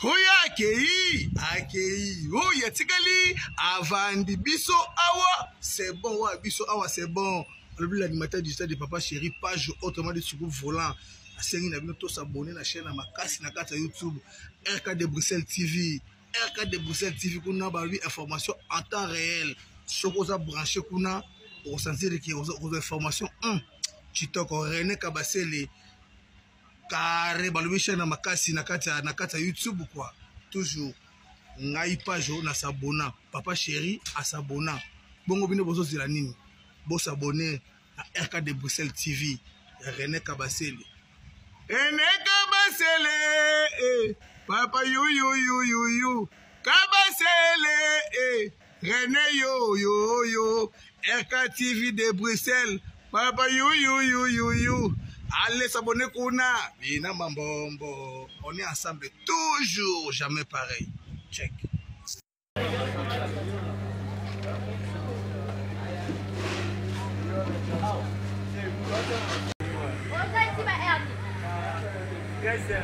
oyo akei akei oyo atikali avandi biso awa c'est bon oyo biso awa c'est bon alobi l'animateur du stade de papa chéri page autrement dit suku volant asengi na bino tosabone na chaîne ya makasi na kati ya youtube rk de bruxelles tv rk de bruxelles tv kuna balobi information en temps réel soki oza branché kuna okosanzirike okozwa information 1 kitoko rene kabasele kare balobi chaîne ya makasi na kati ya na kati ya youtube quoi toujours ngai page oyo nasabona papa chéri asabona bongo bino bozozela nini bosabone na rk de bruxelles tv ya rené kabasele rené kabasele eh, papa yuyuyuyuyu kabasele eh. René yo yo yo RKTV de Bruxelles papa yu yu yu yu yu allez s'abonner kuna bina mambombo on est ensemble toujours jamais pareil check Yes, sir.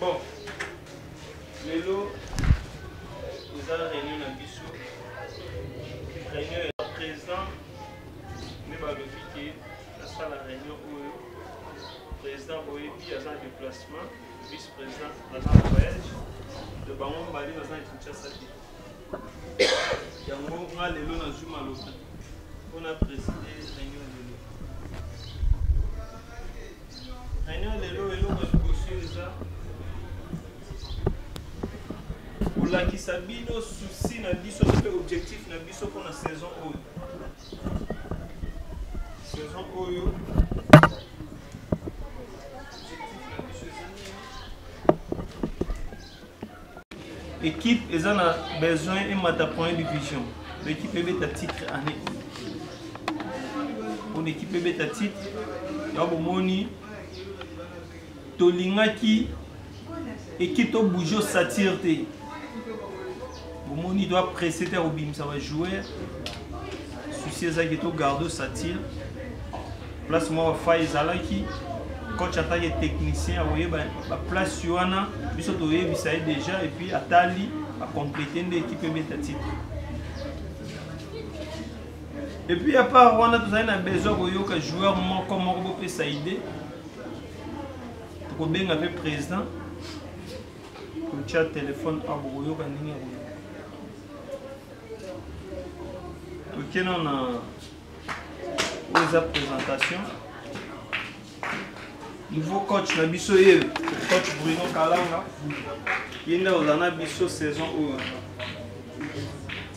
Bon, lelo eza réunion na biso réunion ya président nde balobi ke asala réunion oyo président boyebi aza na déplacement vice président aza na voyage to bango mibale baza na kinshasa te yango nga lelo nazwi maloba mpo na preside réunion lelo réunion lelo eloko liboso eza kolakisa bino susi na biso mpe objectif na biso mpo na saison oyo saison oyo Equipe eza na besoin emata première division. L'équipe ebeta titre année. Pour l'équipe ebeta titre, ya bomoni tolingaki équipe to bouger satire te. omoni to apresse te akobimisa bajoueur souci ezalaki to garde satire place moko fai ezalaki coach atake technicien akoyeba baplace wana biso toyebisa ye déjà epuis atali acomplete nde ekipe ebeta titre epuis apart wana tozali na besoin koyoka joueur moko moko bopesa idée tokobenga mpe président kotya telefone awa bokoyoka ndenge ya koyoka toke nao na oyo eza présentation nouveau coach na biso ye coach bruno kalanga ye nde ozala na biso saison oyo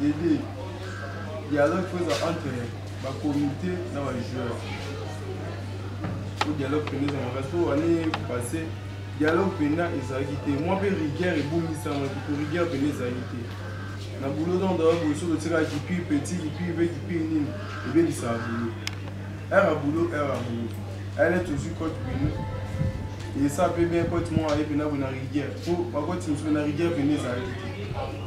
Dede, dialogue faut eza entre ba comité na ba joueurs. Faut dialogue pende eza makasi po année passée dialogue penda ezalaki te mwa mpe rigueur ebongisamaki po rigueur penda ezalaki te na boulot donc dawa boye soki otikaka kipi petit kipi mpe kipi nini ebebisaka boulot heure ya boulot heure ya boulot ale tozwi cote bino esa mpe bien cote moko aye mpena boye na rigueur po bacote mosusu na rigueur penda ezalaki te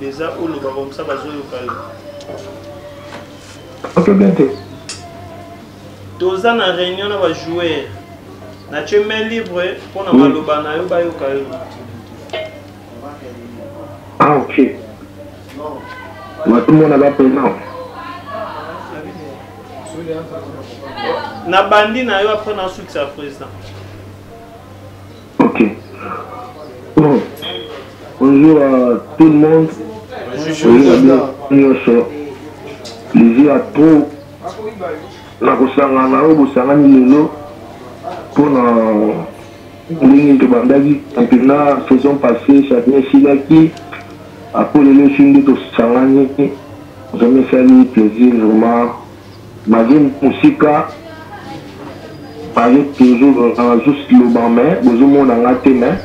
Deza oloba comme ça bazoyoka yo. Oke bien te. Toza na réunion na ba joueurs. Na tu main libre mpo na maloba na yo bayoka yo. Ah ok. Matomona ba paiement. Na bandi na yo après na sukisa président. Ok. Bon. Bonjour à tout le monde. Bonjour à Nyoso. Lizzy a trop na kosangana oyo bosangani lelo mpo na ndenge tobandaki mpena saison passé chacun esilaki apo lelo esi nde tosangani vraiment esali plaisir vraiment Magie musika azo toujours azo loba mais bozo mona nga te mais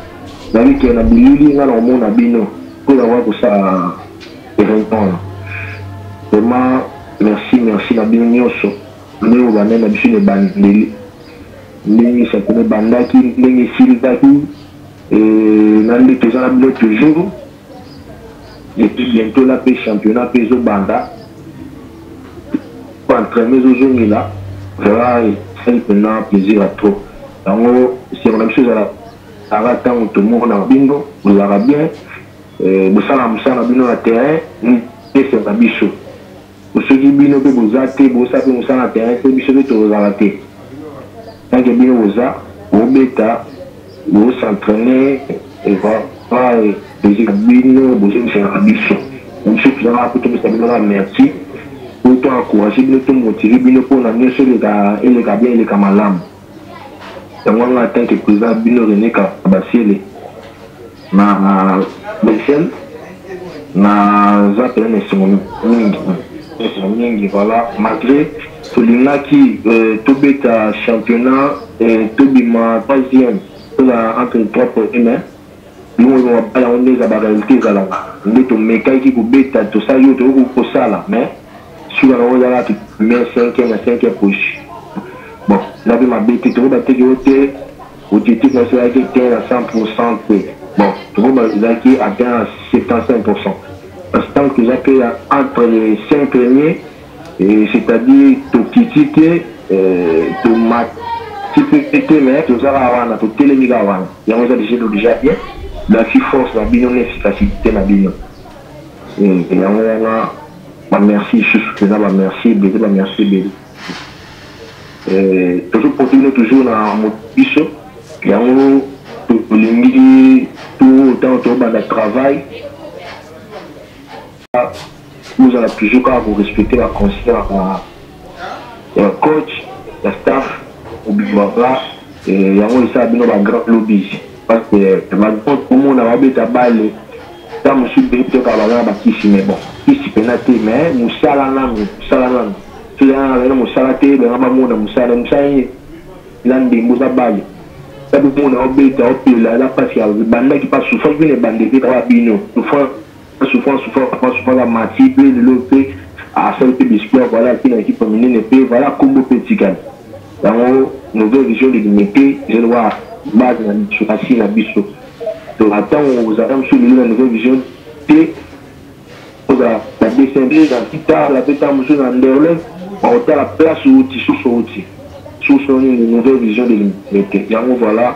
nali ke na bilili nga na komona bino mpo na wa kosala erenkona vraiment merci merci na bino nyonso ndenge obandaki na biso na ebandeli ndenge esakona ebandaki ndenge esilaki na ndenge toza na bino toujours et puis bientôt là pe championnat pe ezo banda po entraînement ezo zongela vraiment esali mpenza plaisir ya trop yango esengo na biso ezala aka ntango tomonaka bino bozalaka bien eh, bosalaka mosala na bino na terrain esenga biso Soki bino pe boza te bosa pe musala na terrain te biso pe tokozala te tant que bino boza bobeta bo s'entraine vraiment plaisir na bino bozongiselaka biso biso toza kaka po topesa bino kaka merci po to encourager bino to motiver bino pona nioso eleka eleka bien eleka malamu. Yango nga en tant que president na bino Rene Kabasiele na Bruxelles naza pena na esengo mingi esengo mingi voilà malgré tolingaki euh, tobeta championnat euh, tobima troisième toza entre trois premier mais bimolimo babala yango nde eza barealité ezalaka nde tomekaki kobeta tosali oyo tokoki kosala mais sila na oza la mais 5 na 5 poche bon na bi mabete to ba teke ote objectif na sila ke te na 100% te bon to ba la ki atteint 75% parce que tant que za pe la entre les 5 premiers et c'est-à-dire to kitite euh to mat ti pe te mais to za la wana to tele mi ga wana ya oza déjà déjà bien la fi force na bino n'efficacité na bino et yango wana Ba merci lisusu pena ba merci ebele ba merci ebele eh, tozo porte bino toujours na mobiso yango tolingi to ntango tobanda travail bozala toujours kaka korespecte baconseil ya coach ya staff obimaka eh, yango esala bino bagrand lobis parce que malgré komona babeta bale ta mosusu mpe toyoka baza na bakisi mais bon kisi mpena te mais mosala nanu mosala nanu soki aa azali na mosala te banga bamona mosala na mosala nini eza ndembo eza bale ta bomona obeta opela eza mpasi ya bandaki mpa sufaki bino ebanda ebeta ba bino souffrance Souffrance, souffrance, papa souffrance, la mati, pe lelo pe, asali pe biscuit, voilà, qui na équipe minene pe, voilà, combo pe tikali. Yango, nouvelle vision de l'unité, je le vois, base na biso, kasi na biso. Donc, attends, on vous attend sur la nouvelle vision, te, ozala, na descendre, na pita, la pita, musu, na nderle, on retard la place, outi, sous, outi. Sous, on une nouvelle vision de l'unité. Yango, voilà,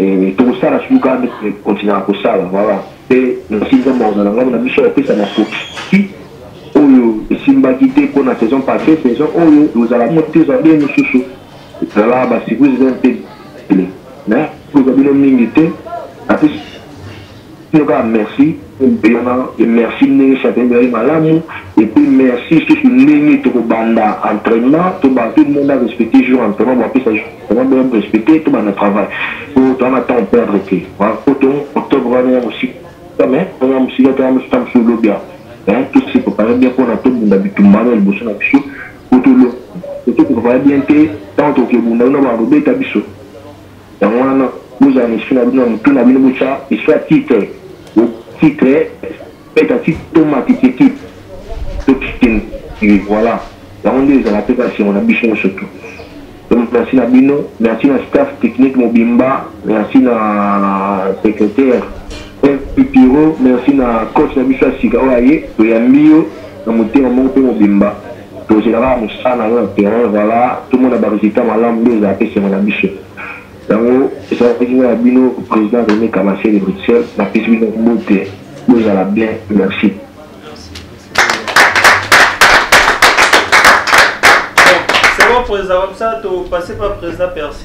Eh, tokosala surtout kaka ndeti eh, continuaka kosala voilà mpe nasi nzambe akozala ngambo na biso apesa makoki oyo esimbaki te mpo na saison passé saison oyo ekozala ngo te ozala bino mosusu ezala basurprise eza mpe bele na kozwa bino mingi te apesi Bino kaka merci mpona merci ndenge sante ezali malamu epuis merci susu ndenge tokobanda entrainement tobanda tout le monde a respecte jour entrainement boapesa jour entrainement boya borespecte tobanda travail po toza na temps perdre te poto octobre wana ya mosika mais oyo ya mosika te ya mosika mosusu lobi ya mais tose prépare bien mpona tobunda bitumba wana liboso na biso po tolo totoprépare bien te ntango tokebunda wana bakobeta biso Yango wana bozala na esprit na bino na motu na bino botya histoire titre titre beta titre to matiti equipe to kitchen voilà yango nde ezala mpe basengo na biso nyonso tu donc merci na bino merci na staff technique mobimba merci na secrétaire pipiro merci na coach na biso ya sika oyo aye toyambi yo na motema moko mpe mobimba Tozela kaka musala na yo na terrain voila tomona ba resultats malamu nde ezalaka esengo na biso. Yango ezalaki nga na bino President Rene Kamasia de Bruxelles napesi bino mbote bozala bien merci. président comme ça, tu passé par président Percy.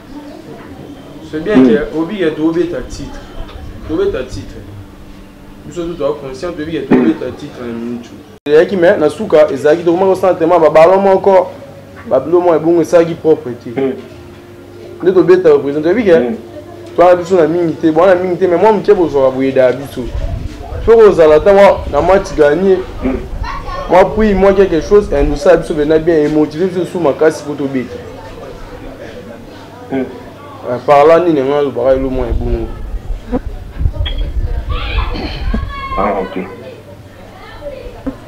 c'est bien que hmm. obiya tobeta titre tobeta titre biso tu toa conscient tobiya tobeta titre na minute ezalaki me na suka ezalaki tokomaki kosala tema babalo moko babilo moko ebongo esalaki propre te hmm. nde tobeta représente oyebi ke hmm. toana biso na mingi te boana mingi te me mwa moke bozwaka boyedaya biso fo kozala ata mwa na match gagné mwa prix mwa quelque chose endosala biso bena bien emotive biso su makasi po tobeta Hmm. Eh, parla nini nga alobaka elo mwa ebongo ah, ok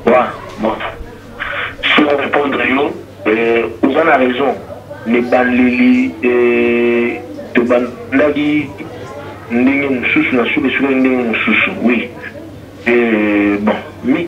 wa bon sur répondre yo eh, oza na raison libaleli eh, tobandaki ndenge mosusu na suka suka ndenge mosusu oui bon mi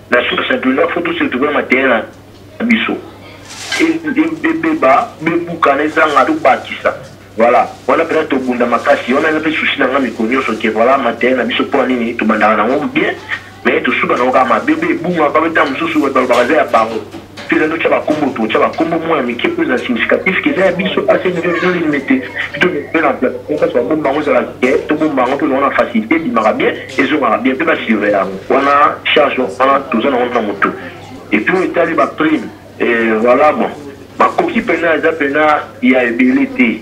na 69 faut tous retrouver mateye na biso ebeba bebukana ezanga tobakisa voilà wana mpenza tobunda makasi wana eza mpe susi na nga mikolo nyonso ke voilà mateye na biso mpo ya nini tobandaka nango bien mais tosuka nango kaka mabe mpe ebungaka mpe ntango mosusu bato balobaka eza ya bango Peza ndo tya bakombo to tya bakombo mwa ya mike oyo eza significatif keza ya biso ase njo njo limete pito mpe na place kasi babomba yango ezala ke tobomba yango mpe ezango na facilité ebimaka bien ezongaka bien mpe basurveille yango wana charge wana toza nango na motu epuis oyo etali baprime eh, voilà bon makoki mpena eza mpena ya ebele te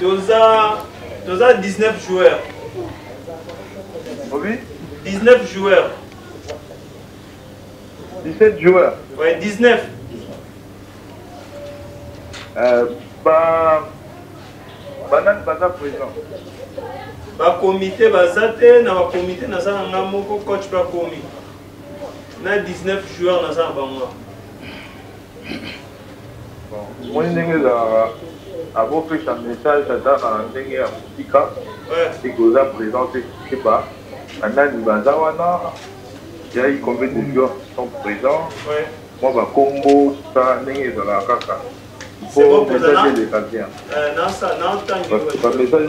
toza toza 19 joueurs obi 19 joueurs 17 joueurs ouais 19 euh, ba banani baza présent bakomite baza te na bakomite naza na ngai moko coach mpe akomi na 19 joueur naza na bango omoni ndenge ezalaka akopesa message ata na ndenge ya mosika eke oza présent te keba banani baza wana yai combien de joueurs qui sont présents mwa bakombo sa ndenge ezalaka kaka po message eleka bien bamessage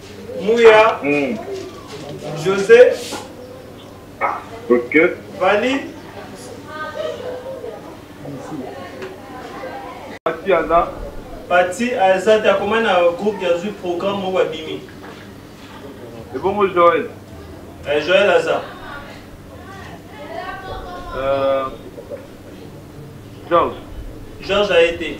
Mouya. Mm. José. Ah, ok. Vali. Pati aza. Pati aza te akoma na groupe ya zwi programme moko abimi. Ebongo Joël. Eh, Joël aza. Euh, Georges. Georges a été.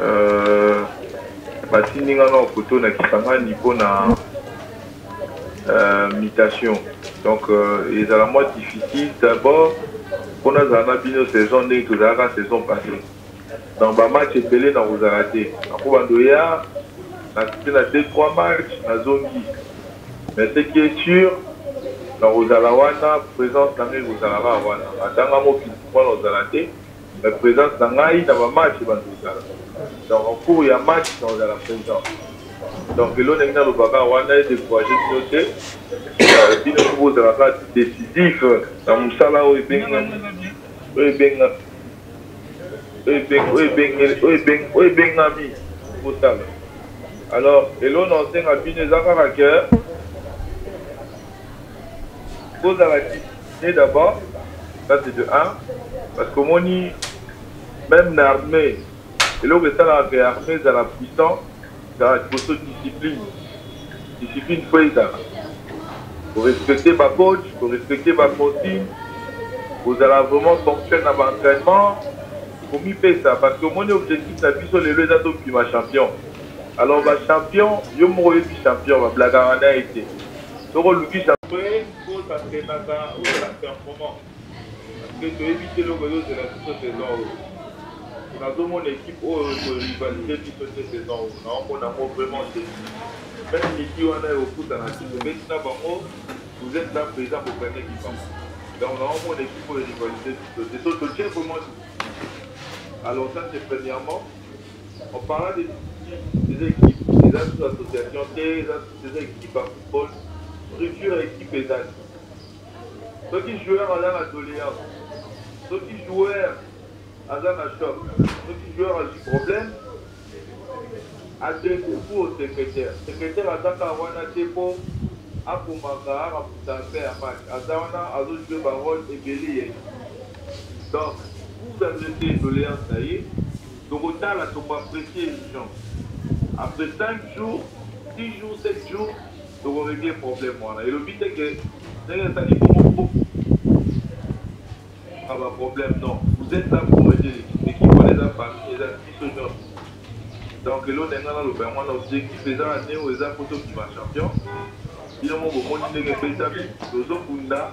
Euh, batindi nga na poto na kisangani mpo na euh, mutation donc euh, ezala mwa difficile d'abord mpo nazala na bino saison ndenge tozalaka saison passé donc bamatch ebele na kozala te ako bandoya nasite na deux trois match nazongi mais ce qui est sûr na kozala wana présence na ngai ekozala kaka wana atanga mokili mpo na kozala te Mais presence na ngai na ba match ebandi kozala. Donc en cours ya match na kozala present. Donc elona ndenge nalobaka wana e decourager bino te. Euh, bino mpe bozala kaka décisif na mosala oyo ebengami oyo ebenga oyo ebeng- oyo ebengeli- oyo ebeng- oyo ebengami kosala. Alors elona osenga bino eza kaka que bozala discipline d'abord ça c'est de 1 parce que omoni même na armée eloko esalaka ke armée ezala puissant ezala liboso discipline discipline fo ezala korespecte bacoach korespecte baconsigne kozala vraiment ponctuel na baentraînement komipesa parce que omoni objectif na biso lelo eza tobima champion alors bachampion yo moko oyebi champion bablakaka na ye te soki oluki kosa senaka ozala performant parceke toyebi te eloko ezozela biso saison oyo nazomona ekipe oyo ekorivalise biso te saison oyo naomona yango vraiment te meme miki wana ekokutana te tobeti na bango vous êtes là présent bogane libanga donc naomona ekipe oyo erivalise biso te so totie vraiment alors ça c'est premièrement En parlant des équipes, des équipes, eza sous association te, eza sous eza équipe ya football, structure ya équipe ezali. Soki joueur aza na doléance, soki joueur aza na choc, soki joueur azwi problème, adresse pour au secrétaire. Secrétaire aza kaka wana te mpo akomaka araputa mpe ya match, aza wana azojue barole ebele ya équipe. Donc, vous adressez doléance na ye, Toko tala toko apprecier emission après 5 jours 6 jours 7 jours toko régler problème wana elobi te que ndenge ezali bongo ah, ba problème non vous êtes là pour aider l'équipe l'équipe wana eza famille eza biso nyonso donc elonda ngai naloba yango wana objectif eza na neo eza po tobima champion bino mo bomoni ndenge ebetami tozobunda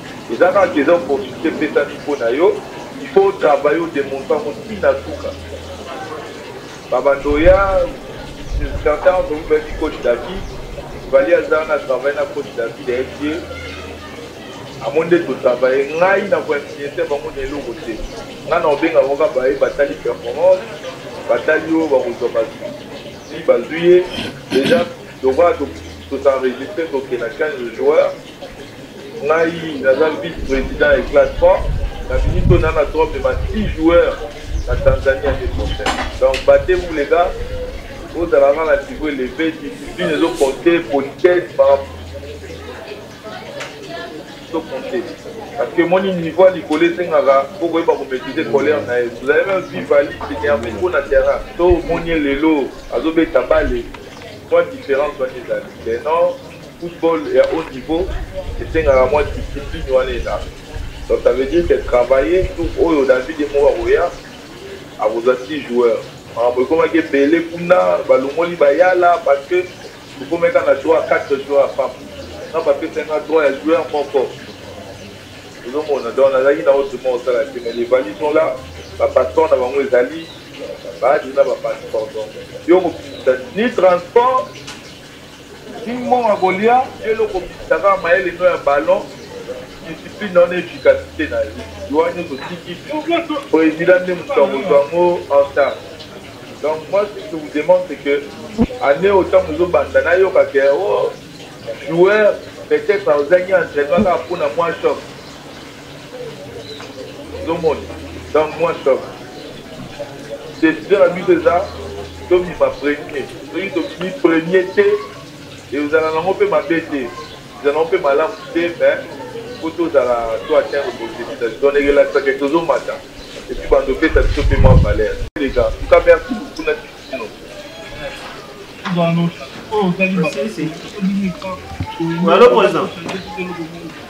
Eza kaka eza opportunité epesami mpo na yo, il faut o travailler o demontre yango ti na suka. Ba bandoya certains d'entre vous bayebi coach David, Vali aza wana travaille na coach David ayebi ye amoni nde totravaille ngai na koinfluence bango na eloko te ngai na obenga koka baye batali performance batali oyo bakozwa bazwi si bazwi ye déjà lokola tosenregistre tokenda 15 joueurs ngai naza vice président ya classe pas na minute oyo nana trope ba 6 joueurs na tanzanie ande prochaine donc bate vous les gars ozala kaka na niveau élevé discipline ezo compte politesse ezo compte parce que moni niveau ya likolo esengaka mpo koyeba komaîtrise colère na ye vous avez même vu vali s'énerve mpo na terrain to omoni ye lelo azobeta bale mwa différence wana ezali te non Football ya haut niveau esengaka mwa discipline wana elaka donc ça veut dire que travailler tour oyo David ye moko akoya akozwa six joueurs makambo ekomaki ebele kuna balongoli bayala parce que tokomaki kaka na droit ya quatre joueurs ya pamba nga bapesaki nga droit ya joueur moko ozomona donc nazalaki na otrement kosala te mais les valises sont là bapasseport na bango ezali baadi na bapasseport donc yo kobimisa ni transport King Monga kolia eloko bimisa kaka mayele no ya ballon discipline na yo na efficacite na yo liwa nyonso otiki president nde moto akozwa yango en charge donc moi ce que je vous demande c'est que année oyo ntango ozobanda nayoka ke o oh, joueur peut-être ozangi entraînement kaka mpo na mwa choc ozomoni donc moi top décision na biso eza tobima premier soki tobimi premier te ezala nango mpe mabe te ezala nango mpe malamu te mais po tozala to atteindre bosekisasi donc erelasaka tozomata epuis bando opesa biso mpe mwa valeur leka nka merci beaucoup na kino Allô, président.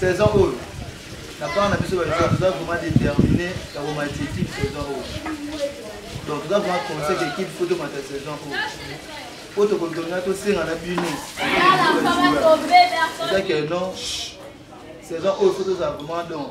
saison oyo na part na biso balisa toza vraiment déterminé ya komatisa équipe saison oyo donc toza vraiment conseil ke équipe fo tomata saison oyo po tokotonga tosenga na bino eza ke non saison oyo fo tozala vraiment donc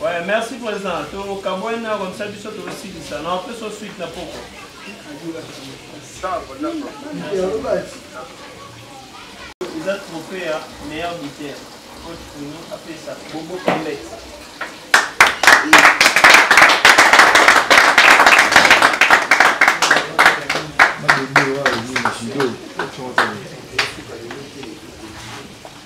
Ouais, merci président. To kabwena comme ça biso to silisa. Na pe so suite na poko. Eza trophée ya meilleur buteur. Coach Bruno apesa Bobo Kambet. Judo.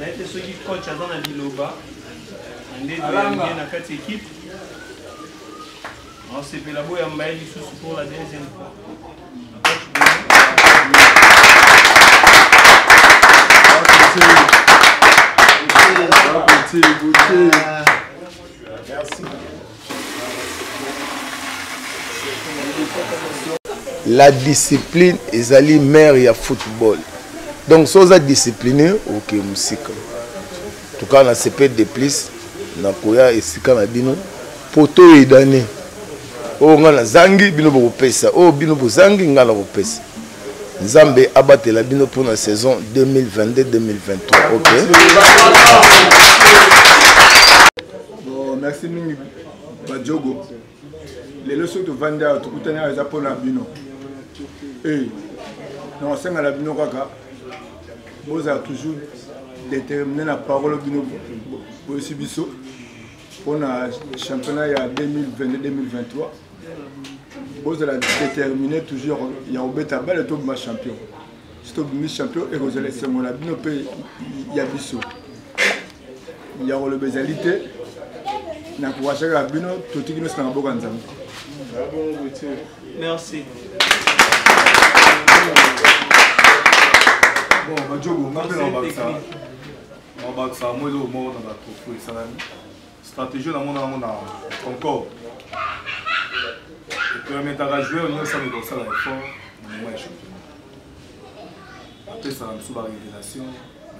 nayete soki coach aza na liloba ndedoyange na kati ekipe nasepela boyamba ye lisusu pour la deuxième fois Merci. la discipline ezali mare ya football donc so oza discipline oke mosika tukaa na sepele de plus nakoya esika na bino mpo toyedane oyo oh, ngai nazangi bino bokopesa oyo oh, bino bozangi ngai nakopesa nzambe abatela bino mpo na saison 2022-2023 ok Bon, merci mingi Badjogo. Lelo soki tovandi awa tokutani awa eza mpo na bino. Eh, na kosenga na bino kaka bozala toujours déterminé na parole bino boyesi biso mpo na championnat ya 2022-2023 bozala déterminé toujours ya kobeta bale tobima champion soki tobimi champion ekozala esengo na bino mpe ya biso ya koloba ezali te na kowasaka bino totiki nyonso na maboko ya nzambe merci bon bajobo nga mpe na babakisa na babakisa mwa eloko moko na batropo esalami stratégie na mona yango na concorde epermetaka joueur nyonso ameka kosala effort na moment ya championnat apesaka biso barévélation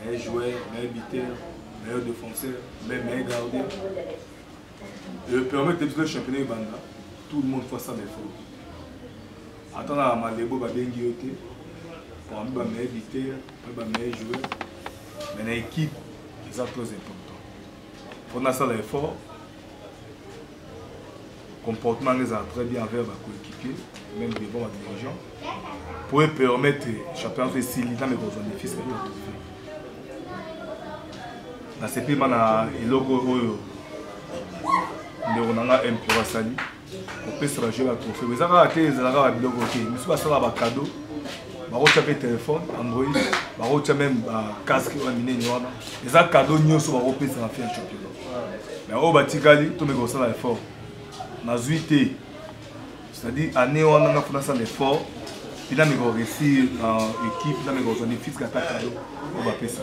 meilleur joueur meilleur buteur meilleur défenseur mais meilleur gardien epermete biso le championnat ebanda tout le monde faut asala effort ata na malebo babengi yo te parmi bameilleur buteur mpe bameilleur joueur mais na équipe eza très important mpo nasala effort comportement nanga ezala très bien envers bacoéquipier même devant badirigeant mpo epermettre championnat so esili ntango ekozwa defisi ya trophée nasepeli ma na eloko oyo ndeko na nga mpura asali kopesa bajeu ba trophée eza kaka te ezala kaka biloko te misu basala bacado bakotya mpe telefone android bakotya meme bacasque oyo minene wana eza cado nyonso bakopesa na fin ya championnat mais oyo batikali tomeka kosala effort nazwi te c'est-à-dire année wana nga mpo nasala effort mpe nameka koresir na équipe nameka kozwa ne fiske ata cado oyo bapesa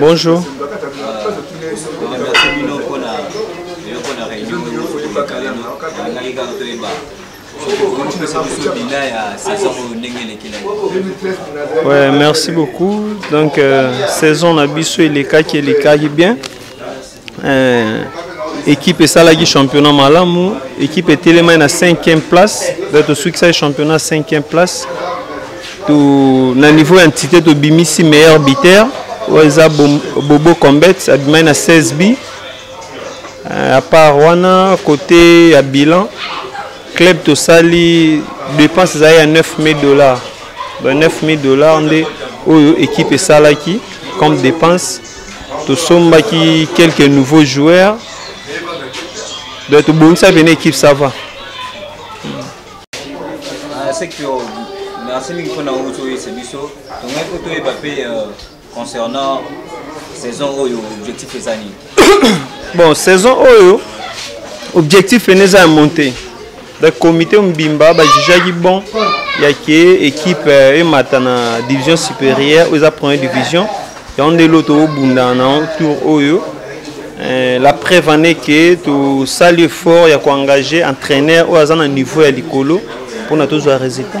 Bonjour. Ouais, merci beaucoup. Donc, euh, saison na biso elekaki elekaki bien. Euh, équipe esalaki championnat malamu équipe etelemaki na 5e place donc tosukisaki championnat 5e place to, na niveau ya entité tobimisi meilleur buteur oyo eza bobo combet abimaki na 16 bi Euh, à part wana côté ya bilan club tosali dépense ezali ya 9000 dollars ba 9000 dollars nde oyo équipe esalaki comme dépense tosombaki quelques nouveaux joueurs donc tobongisaki pene équipe ça va ah, merci mingi mpona oyo toyesa biso tongai mpo toyeba mpe euh, concernant saison oyo objectif eza nini bon saison oyo objectif ene eza ya monte donc comité mobimba bajijaki bon ya ke équipe euh, emata na division supérieure oyo eza première division yango nde elo tobunda na tour oyo euh, la preuve en est ke tosali effort ya koengage entraîneur oyo aza na niveau ya likolo mpona tozwa résultat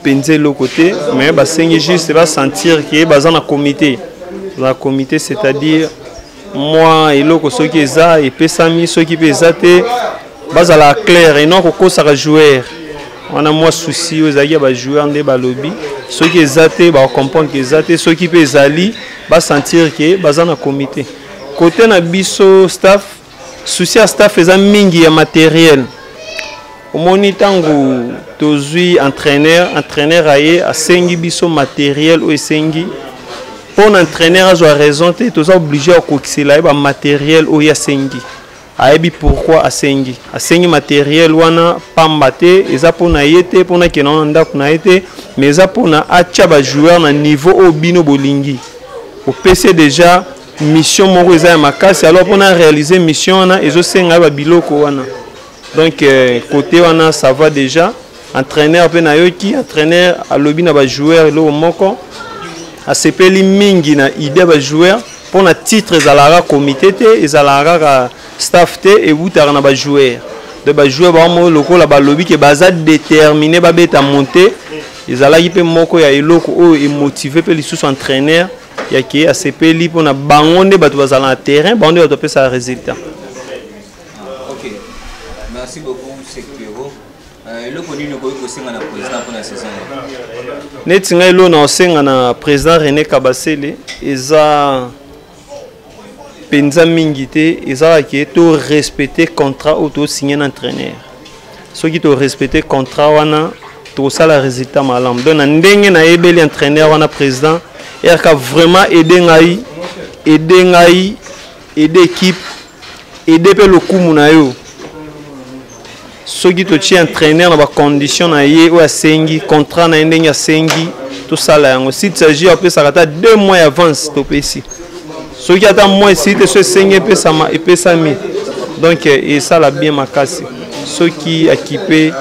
mpenza eloko te mais basengi juste basentir ke baza na comité na comité c'est-à-dire mwa eloko soki eza epesami soki mpe eza te bazala claire eno kokosaka joueur wana mwa souci oyo ezalaki ya bajoueur nde balobi soki eza te bacomprendre ke eza te soki mpe ezali basentir ke baza na comité kote na biso staff souci ya staff eza mingi ya materiel omoni ntango tozwi entraîneur entraîneur aye asengi biso materiel oyo esengi mpo na entraîneur azwa raison te toza oblige ya kokisela ye bamateriel oyo asengi ayebi pourkui asengi asengi materiel wana pamba te eza mpo na ye te mpo nakenda wana ndako na ye te mais eza mpo na atya bajoueur na niveau oyo bino bolingi opesi deja mission moko eza ya makasi alors mpo na réaliser mission wana ezosenga ye babiloko wana donc euh, côté wana ça va déjà entraîneur mpe nayoki entraîneur alobi na bajoueur eloko moko asepeli mingi na idée ya bajoueur mpo na titre ezalaka comité te ezalaka kaka staff te ewutaka na bajoueur donc bajoueur bango moko lokola balobi ke baza détermine babeta monte ezalaki mpe moko ya eloko oyo emotive mpe lisusu entraîneur ya ke asepeli mpona bango nde bato bazala na terrain bango nde bato bapesaka résultat okay. merci beaucoup sekiro euh, eloko nini okoki kosenga na président mpona saison neti ngai elo na osenga na président rené kabasele eza penza mingi te ezalaka ke to respecte contrat oyo tosigne na entraîneur soki to respecte contrat wana tokosala résultat malamu donc na ndenge nayebeli entraîneur wana président rk vraiment aide ngai aide ngai aide équipe aide mpe lokumu na yo soki totie entraîneur na bacondition na ye oyo asengi contrat na ye ndenge asengi tosala yango site sagi apesaka ata deux mois ya avance topesi soki ata moi site so esengi epesama epesami donc eh, esala bien makasi soki akipe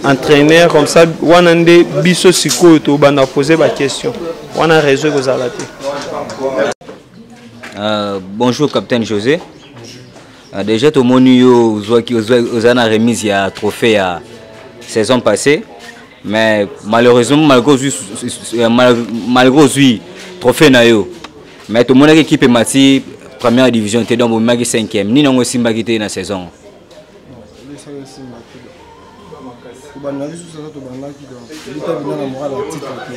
entraîneur comme ça wana nde biso sikoyo tobanda pose baquestion wana réseau ekozala te euh, bonjour capitaine josé Ah, deja tomoni yo ozwaki oza na remise ya trophée ya saison passée mais malheureusement malgré ozwi euh, malgré ozwi trophée na yo mais tomonaki équipe emati première division te donc bomemaki cinquième nini yango esimbaki te na saison kobanda lisusu aza tobandaki donc bita bina na moral ya titre te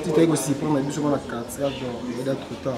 titre ekosiprime na biso mpo na 4 donc eda trop tard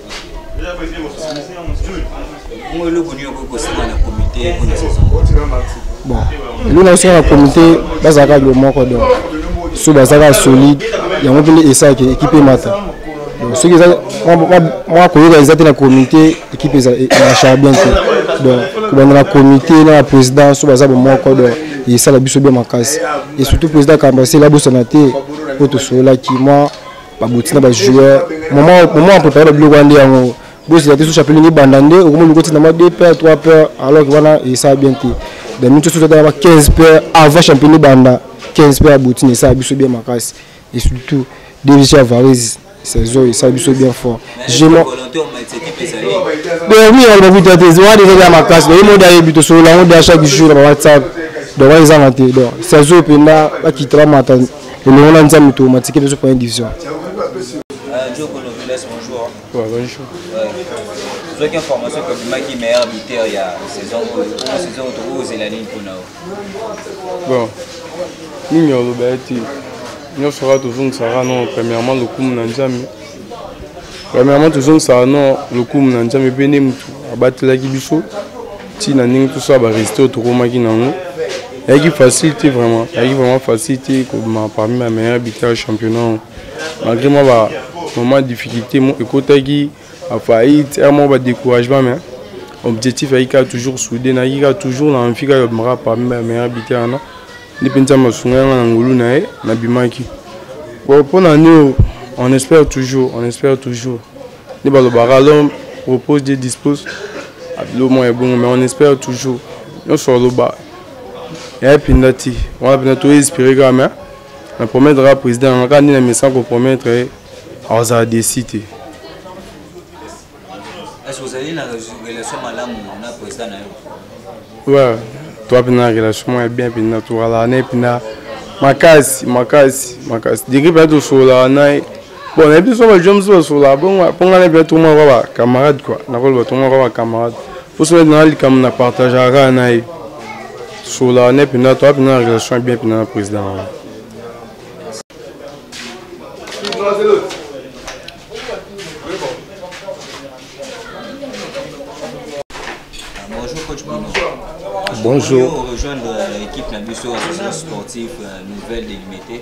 Bon, eloko na yo osala na komite bazalaka yo moko donc so bazalaka solide yango mpende esaki ekipe emata donc soki eza mwa koyoka eza te na komite ekipe emashaka bien te donc kobanda na komite na na président so baza bomoko donc esala biso bien makasi et surtout président kambasela abosana te mpo tosololaki mwa baboti na bajoueur moment aprepare babiloko wana nde yango bozela te so chapelin ebanda nde okomi olingi otinda mwa 2 paire 3 paire alors ke wana esala bien te da minute osusu atala ba 15 paire avant champion ebanda 15 paire aboti na esala biso bien makasi et surtout devisi ya varise saison esala biso bien fort permis ya lobabita te wana eza ya makasi oyebi mode ayebi tosolola yango de chaque jour na ba whatsapp donc wana ezanga te donc saison mpenza bakita bamata elongo na nzambe tomatike biso première division Ouais, bonjour. ozwaki information ke obimaki meilleur buteur ya saison oyo omo saison oyo tokozela nini mpona yo bon nini ya oloba ye te nyonso kaka tozongisaka no premièrement lokumu na nzambe premièrement tozongisaka no lokumu na nzambe mpe nde motu abatelaki biso ti na ndenge toso ya bareste oyo tokomaki nango ayaki facile te vraiment ayaki vraiment facile te kobima parmi ma meilleur buteur ya championnat oyo malgré mwa ba moment difficulté ekotaki afaillite ere moko badécouragement mais objectif ayaki kaka toujours soude nayaki kaka toujours na envi kaka yobimaka parmi ma meilleur buteur wana nde mpenza masunga yanga na ngolu na ye nabimaki bon mpo na nio on espère toujours on espère toujours nde balobaka l'homme propose dieu dispose abilo mwa ebongo mais on espère toujours nyonso aloba ya epinda ti wana mpena to espere kaka mais na promettre kaka président yanga kaka nde na mesa kopromettre ye akozala desi te ouais toa mpena na relation mwa ya bien mpena tozalaka na ye mpena makasi makasi makasi degre mpena tosololaka na ye bon na biso ba joms ba sola bongo po ngana bia to mwa ba camarade quoi na koloba to mwa ba camarade po sola na likambo na partage aka na ye sola ne pina to pina relation bien pina na président wana Bonjour. Bonjour. rejoindre l'équipe Nabusso, association sportive euh, nouvelle délimitée.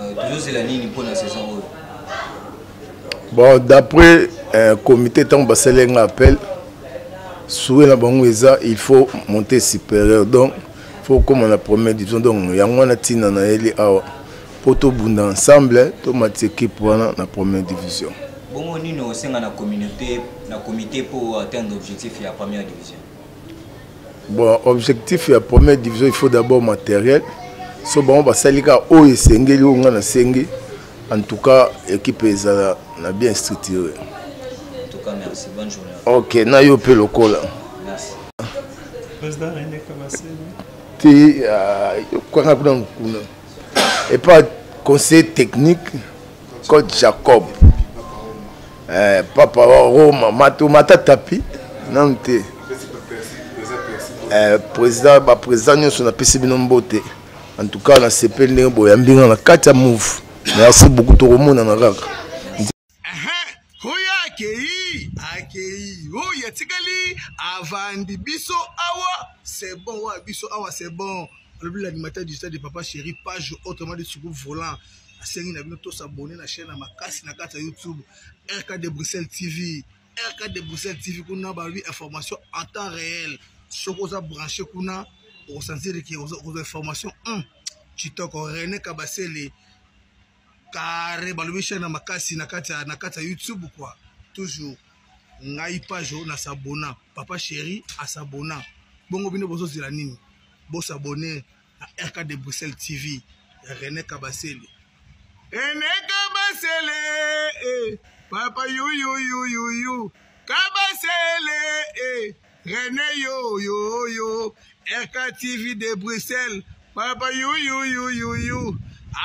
Euh, tozozela nini mpo na saison oyo bon d'après euh, comité ntango basali yanga appel souwe na bango eza il faut monter supérieur donc faut okoma na première division donc yango wana ntina nayeli awa mpo tobunda ensemble tomati équipe wana na première division bongo nini osenga na communauté na comité mpo atteindre objectif ya première division bon objectif ya première division il faut d'abord matériel so bango basali kaka oyo esengeli oyo ngai nasengi en tout cas équipe ezala na bien structuré ok na yo mpe lokola te ah, kaka kuna mokuna epa conseil technique cote jacob eh, papa wa roma mato mata tapi nanu te eh, président baprésident nyonso napesi bino mbote en tout cas nasepeli ndenge boyambi nga na kati ya move merci beaucoup tokomonana kaka oyo akei akei oyo atikali avandi biso awa c'est bon wa biso awa c'est bon alobi l'animateur du stade de papa chéri page autrement dit suku volant nasengi na bino tosabone na chaîne ya makasi na kati ya youtube rk de bruxelles tv rk de bruxelles tv kuna balobi information en temps réel soki oza branche kuna okosanzeli ke okozwa information hum, kitoko rene kabasele kare balobi chaîne ya makasi na kati ya youtube kua toujours ngai page oyo nasabona papa chéri asabona bongo bino bozozela nini bosabone na rk de bruxelles tv ya rene kabasele rene kabasele eh, papa yuyuyuyuyu kabasele eh, rene yoyoyo rk tv de bruxelles papa yuyuyuyuyu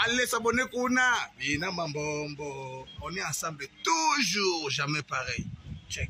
allez s'abonner kuna bina mambombo on est ensemble toujours jamais pareil check